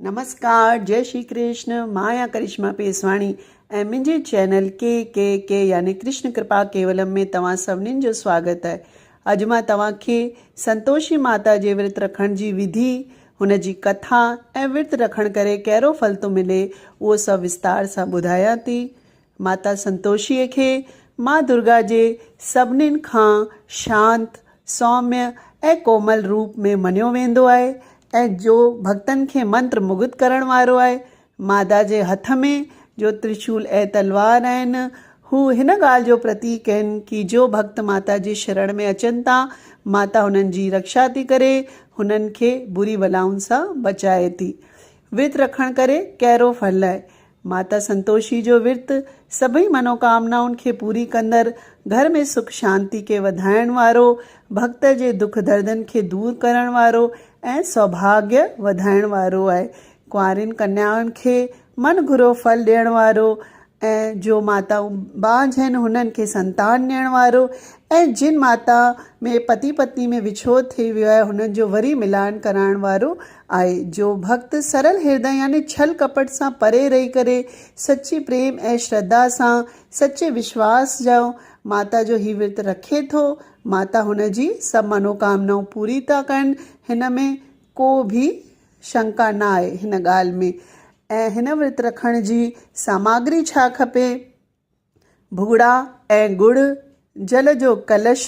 نمسڪار جئي شري ڪرشن مان آهيان ڪرشما پيسواڻي ۽ منهنجي چينل ڪي ڪي ڪي يعني ڪرشن ڪرپا ڪيولم ۾ توهان سڀنين جو سواگت آهي اڄ مان توهان کي سنتوشي ماتا جي ورت رکڻ جي وڌي هن جي ڪٿا ۽ ورت رکڻ ڪري ڪهرو ڦل ٿو ملي اهو سڀ وستار سان ٻڌايان ٿي ماتا سنتوشيء کي ماء درگا جي سڀنين کان شانت، سوميء ۽ ڪومل روپ ۾ مڃيو ويندو آهي ۽ جو ڀڳتن کي منتر مگڌ ڪرڻ وارو آهي. مادا جي هٿ ۾ جو ترشول ۽ تلوار آهن، هو هن ڳالهه جو پرتيڪ آهن ڪي جو ڀڳت ماتا جي شرڻ ۾ اچن ٿا، ماتا هنن جي رڪشا ٿي ڪري، هنن کي بري بلائن سان بچائي ٿي. ورت رکڻ ڪري ڪهرو ڦل آهي. ماتا سنتوشي جو ورت سڀئي منوڪامنائن کي پوري ڪندڙ، گهر ۾ سک شانتي کي وڌائڻ وارو، ڀڳت جي دک دردن کي دور ڪرڻ وارو ۽ سوڀاڳيء وڌائڻ وارو آهي. ڪنوارين ڪنيائن کي من گهرو ڦل ڏيڻ وارو ۽ جو ماتائون بانجهه آهن هنن کي سنتان ڏيڻ وارو ۽ جن ماتائن ۾ پتي پتني ۾ وڇوڙ ٿي ويو آهي هنن جو وري ملان ڪرائڻ وارو آهي جو ڀڳت سرل هردئ يعني ڇل ڪپٽ سان پري رهي ڪري سچي پريم ۽ شرڌا سان سچي وشواس جو ماتا جو هي ورت رکي ٿو ماتا هن جي سڀ منوڪامنائون پوري ٿا ڪن هن ۾ ڪو به شنڪا نه آهي هن ڳالهه ۾ ۽ هن ورت رکڻ جي ساماگري ڇا کپي؟ ڀڳڙا ۽ ڳڙ، جل جو ڪلش،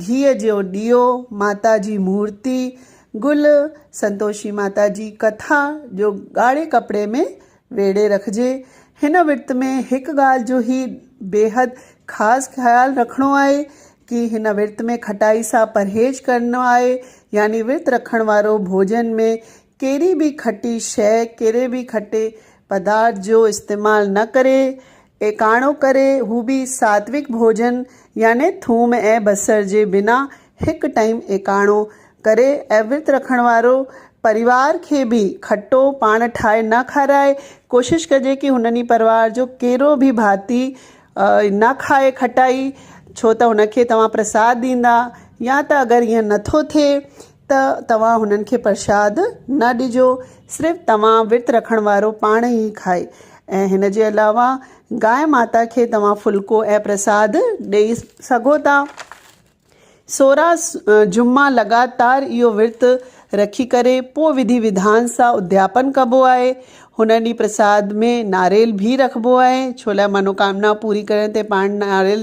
گيهه جو ڏيئو، ماتا جي مورتي، گل، سنتوشي ماتا جي ڪٿا جو ڳاڙهي ڪپڙي ۾ ويڙهي رکجي. هن ورت ۾ هڪ ڳالهه جو هي بيحد خاص خيال رکڻو آهي ڪي هن ورت ۾ کٽائي سان پرهيز ڪرڻو آهي يعني ورت رکڻ وارو ڀوڄن ۾ ڪهڙي به کٽي شيء، ڪهڙي به کٽي پدارٿ جو استعمال نه ڪري، ايڪاڻو ڪري هو به ساتويڪ ڀوڄن يعني ٿوم ۽ بصر جي بنا هڪ ٽائيم ايڪاڻو ڪري ۽ ورت رکڻ وارو پريوار کي به کٽو پاڻ ٺاهي نه کارائي، ڪوشش ڪجي ڪي هن ڏينهن پريوار جو ڪهڙو به ڀاتي نه کائي کٽائي ڇو ته هن کي توهان پرساد ڏيندا يا ته اگر ايئن نٿو ٿئي ته توهان هنن کي پرشاد نه ڏجو، صرف توهان ورت رکڻ وارو پاڻ ئي کائي ۽ هن جي علاوه گائي ماتا کي توهان ڦلڪو ۽ پرساد ڏئي سگهو ٿا. سورهن جمعا لڳاتار اهو ورت رکي ڪري پوء وڌي وڌان سان ادياپن ڪبو آهي. هن ڏينهن پرساد ۾ ناريل ڀي رکبو آهي، ڇولاء منوڪامنا پوري ڪرڻ تي پاڻ ناريل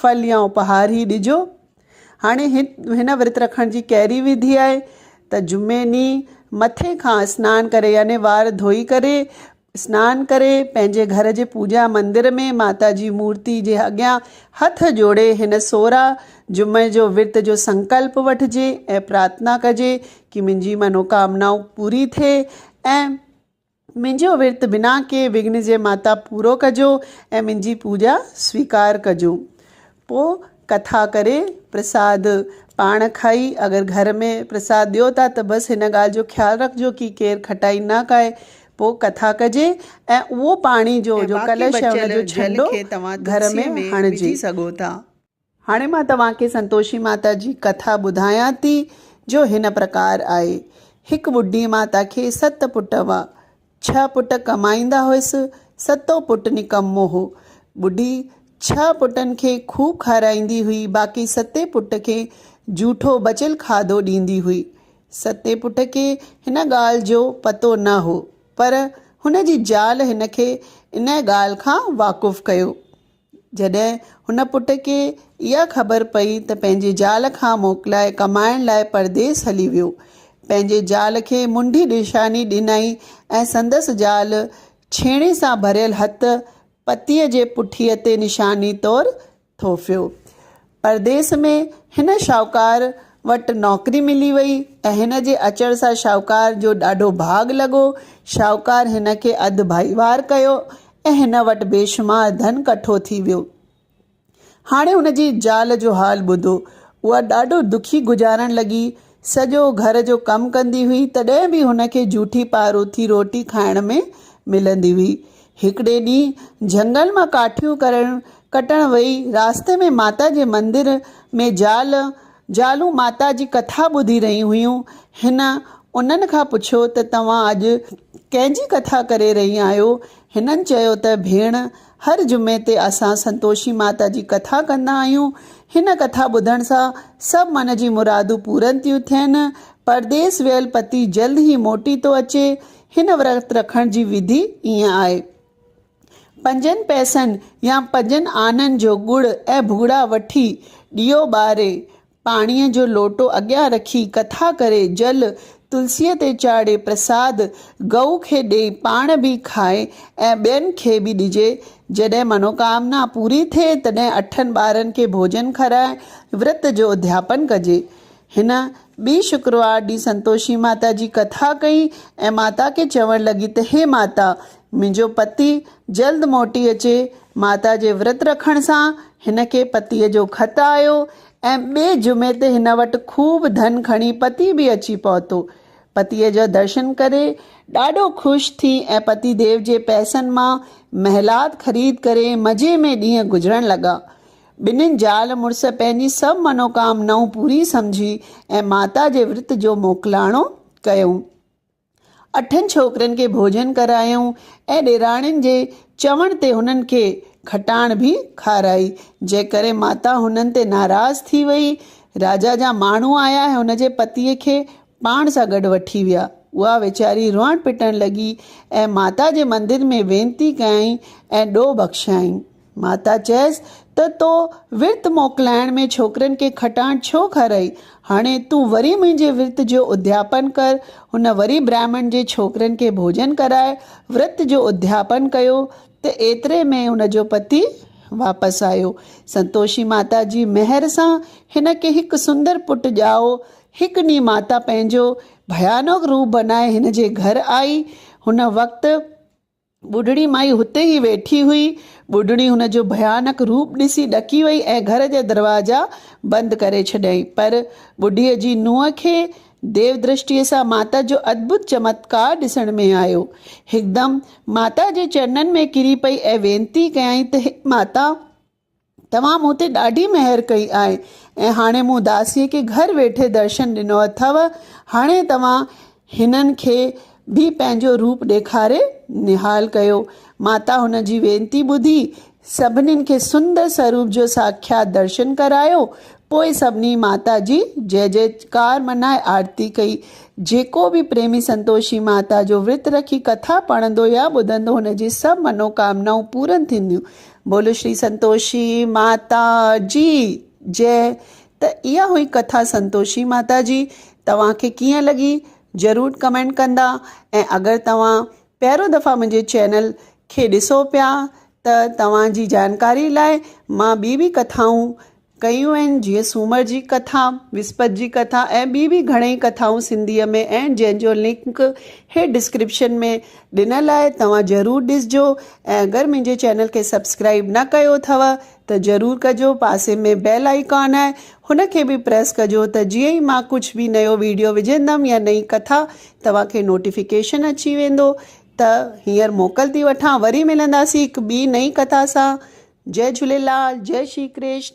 ڦل يا اپهار ئي ڏجو. هاڻي هن ورت رکڻ جي ڪهڙي وڌي آهي ته جمعي ڏينهن مٿي کان اسنان ڪري يعني وار ڌوئي ڪري اسنان ڪري پنهنجي گهر جي پوڄا مندر ۾ ماتا جي مورتي جي اڳيان هٿ جوڙي هن سورا جمعي جو ورت جو سنڪلپ وٺجي ۽ پرارٿنا ڪجي ڪي منهنجي منوڪامنائون پوري ٿئي ۽ منهنجو ورت بنا ڪنهن وگهن جي ماتا پورو ڪجو ۽ منهنجي پوڄا سويڪار ڪجو. پوء ڪٿا ڪري پرساد پاڻ کائي اگر گهر ۾ پرساد ڏيو ٿا ته بس هن ڳالهه جو خيال رکجو ڪي ڪير کٽائي نه کائي. پوء ڪٿا ڪجي ۽ اهو پاڻي جو جو ڪلش آهي ان جو ڇنڊو گهر ۾ هڻجي. هاڻي مان توهان کي سنتوشي ماتا جي ڪٿا ٻڌايان ٿي، جو هن پرڪار آهي. هڪ ٻڍي ماتا کي ست پٽ هئا. ڇهه پٽ ڪمائيندا هئس، ستون پٽ نڪمو هو. ٻڍي ڇهه پٽن کي خوب کارائيندي هئي، باقي ستين پٽ کي جوٺو بچيل کاڌو ڏيندي هئي. ستين پٽ کي هن ڳالهه جو پتو نه هو، پر هن جي زال هن کي ان ڳالهه کان واقف ڪيو. جڏهن هن پٽ کي اها خبر پئي ته پنهنجي زال کان موڪلائي ڪمائڻ لاء پرديس هلي ويو. پنهنجي زال کي منڍي نشاني ڏنائين ۽ سندس زال ڇيڻي سان ڀريل هٿ پتيء جي پٺيء تي نشاني طور ٿوڦيو. پرديس ۾ هن شاهوڪار وٽ نوڪري ملي وئي ۽ هن جي اچڻ سان شاهوڪار جو ڏاڍو ڀاڳ لڳو. شاهوڪار هن کي اڌ ڀائيوار ڪيو ۽ هن وٽ بيشمار ڌن ڪٺو ٿي ويو. هاڻي هن جي زال جو حال ٻڌو. اها ڏاڍو دکي گذارڻ لڳي. سڄو گهر جو ڪم ڪندي هئي، تڏهن به هن کي جوٺي پاروٿي روٽي کائڻ ۾ ملندي هئي. هڪڙي ڏينهن جهنگل مان ڪاٺيون ڪرڻ ڪٽڻ وئي، راسته ۾ ماتا جي مندر ۾ زال، زالون ماتا جي ڪٿا ٻڌي رهيون هيون. هن انهن کان پڇيو ته توهان اڄ ڪنهن جي ڪٿا ڪري رهي آهيو؟ هنن چيو ته ڀيڻ هر جمعي تي اسان سنتوشي ماتا جي ڪٿا ڪندا آهيون. هن ڪٿا ٻڌڻ سان سڀ من جي مرادون پورن ٿيون ٿين. پرديس ويل پتي جلد ئي موٽي ٿو اچي. هن ورت رکڻ جي وڌي ائين آهي. پنجن پئسن يا پنجن آنن جو ڳڙ ۽ ڀوڳڙا وٺي ڏيئو ٻاري پاڻيء جو لوٽو اڳيان رکي، ڪٿا ڪري، جل تلسيء تي چاڙهي، پرساد گئو کي ڏئي، پاڻ به کائي ۽ ٻين کي به ڏجي. جڏهن منوڪامنا پوري ٿئي، تڏهن اٺن ٻارن کي ڀوڄن کارائي، ورت جو اڌياپن ڪجي. هن ٻي شڪروار ڏينهن سنتوشي ماتا جي ڪٿا ڪئي ۽ ماتا کي چوڻ لڳي ته هي ماتا! منهنجو پتي جلد موٽي اچي. ماتا جي ورت رکڻ سان هن کي پتيء جو خط آيو. ۽ ٻئي جمعي تي هن وٽ خوب ڌن کڻي پتي به اچي پهتو. پتيء جو درشن ڪري ڏاڍو خوش ٿي ۽ پتي ديو جي پئسن مان محلات خريد ڪري مزي ۾ ڏينهن گذرڻ لڳا. ٻنهين زال مڙس پنهنجي سڀ منوڪامنائون پوريون سمجهي ۽ ماتا جي ورت جو موڪلاڻو ڪيو. اٺن ڇوڪرين کي ڀوڄن ڪرايائون ۽ ڏيراڻين جي چوڻ تي هنن کي کٽاڻ به کارائي، جنهن ڪري ماتا هنن تي ناراض ٿي وئي. راجا جا ماڻهو آيا ۽ هن جي پتيء کي پاڻ سان گڏ وٺي ويا. اها ويچاري روئڻ پٽڻ لڳي ۽ ماتا جي مندر ۾ وينتي ڪيائين ۽ ڏوهه بخشيائين. ماتا چيس ته تو ورت موڪلائڻ ۾ ڇوڪرين کي کٽاڻ ڇو کارئي؟ هاڻي تون وري منهنجي ورت جو ادياپن ڪر. هن وري برهمڻ جي ڇوڪرين کي ڀوڄن ڪرائي ورت جو ادياپن ڪيو ته ايتري ۾ هن جو پتي واپس آيو. سنتوشي ماتا جي مهر سان هن کي هڪ سندر پٽ ڄائو. هڪ ڏينهن ماتا پنهنجو ڀيانوڪ روپ بنائي هن جي گهر آئي. هن وقت ٻڍڙي مائي هتي ئي ويٺي هئي. ٻڍڙي هن جو ڀيانڪ روپ ڏسي ڏڪي وئي ۽ گهر جا دروازا بند ڪري ڇڏيائين. پر ٻڍيء جي نونهن کي ديودرشٽيء سان ماتا جو ادڀت چمتڪار ڏسڻ ۾ آيو. هڪدم ماتا جي چرنن ۾ ڪري پئي ۽ وينتي ڪيائين ته، هي ماتا! توهان مون تي ڏاڍي مهر ڪئي آهي ۽ هاڻي مون داسيء کي گهر ويٺي درشن ڏنو اٿئو، هاڻي توهان هنن کي به پنهنجو روپ ڏيکاري نهال ڪيو. ماتا هن جي وينتي ٻڌي، سڀنين کي سندر سروپ جو ساکيات درشن ڪرايو. پوء سڀني ماتا جي جئه جئه ڪار منائي آرتي ڪئي. جيڪو به پريمي سنتوشي ماتا جو ورت رکي ڪٿا پڙهندو يا ٻڌندو هن جي سڀ منوڪامنائون پورن ٿينديون. بولو شري سنتوشي ماتا جي جي ته اها هئي ڪٿا سنتوشي ماتا جي توهان کي ڪيئن لڳي ضرور ڪمينٽ ڪندا ۽ اگر توهان پهرو دفعا منهنجي چينل کي ڏسو پيا ته توهان جي جانڪاري لاء مان ٻي به ڪٿائون ڪيون آهن جيئن سومر جي ڪٿا، وسپت جي ڪٿا ۽ ٻي به گهڻيئي ڪٿائون سنڌيء ۾ اهن جنهن جو لنڪ هيٺ ڊسڪرپشن ۾ ڏنل آهي توهان ضرور ڏسجو ۽ اگر منهنجي چينل کي سبسڪرائيب نه ڪيو اٿو ته ضرور ڪجو پاسي ۾ بيل آئيڪان آهي هن کي به پريس ڪجو ته جيئن ئي مان ڪجهه به نيو ويڊيو وجهندم يا نئين ڪٿا توهان کي نوٽيفڪيشن اچي ويندو ته هينئر موڪل ٿي وٺان وري ملنداسين هڪ ٻي نئين ڪٿا سان جئ جهوليلال جئ شري ڪرشن.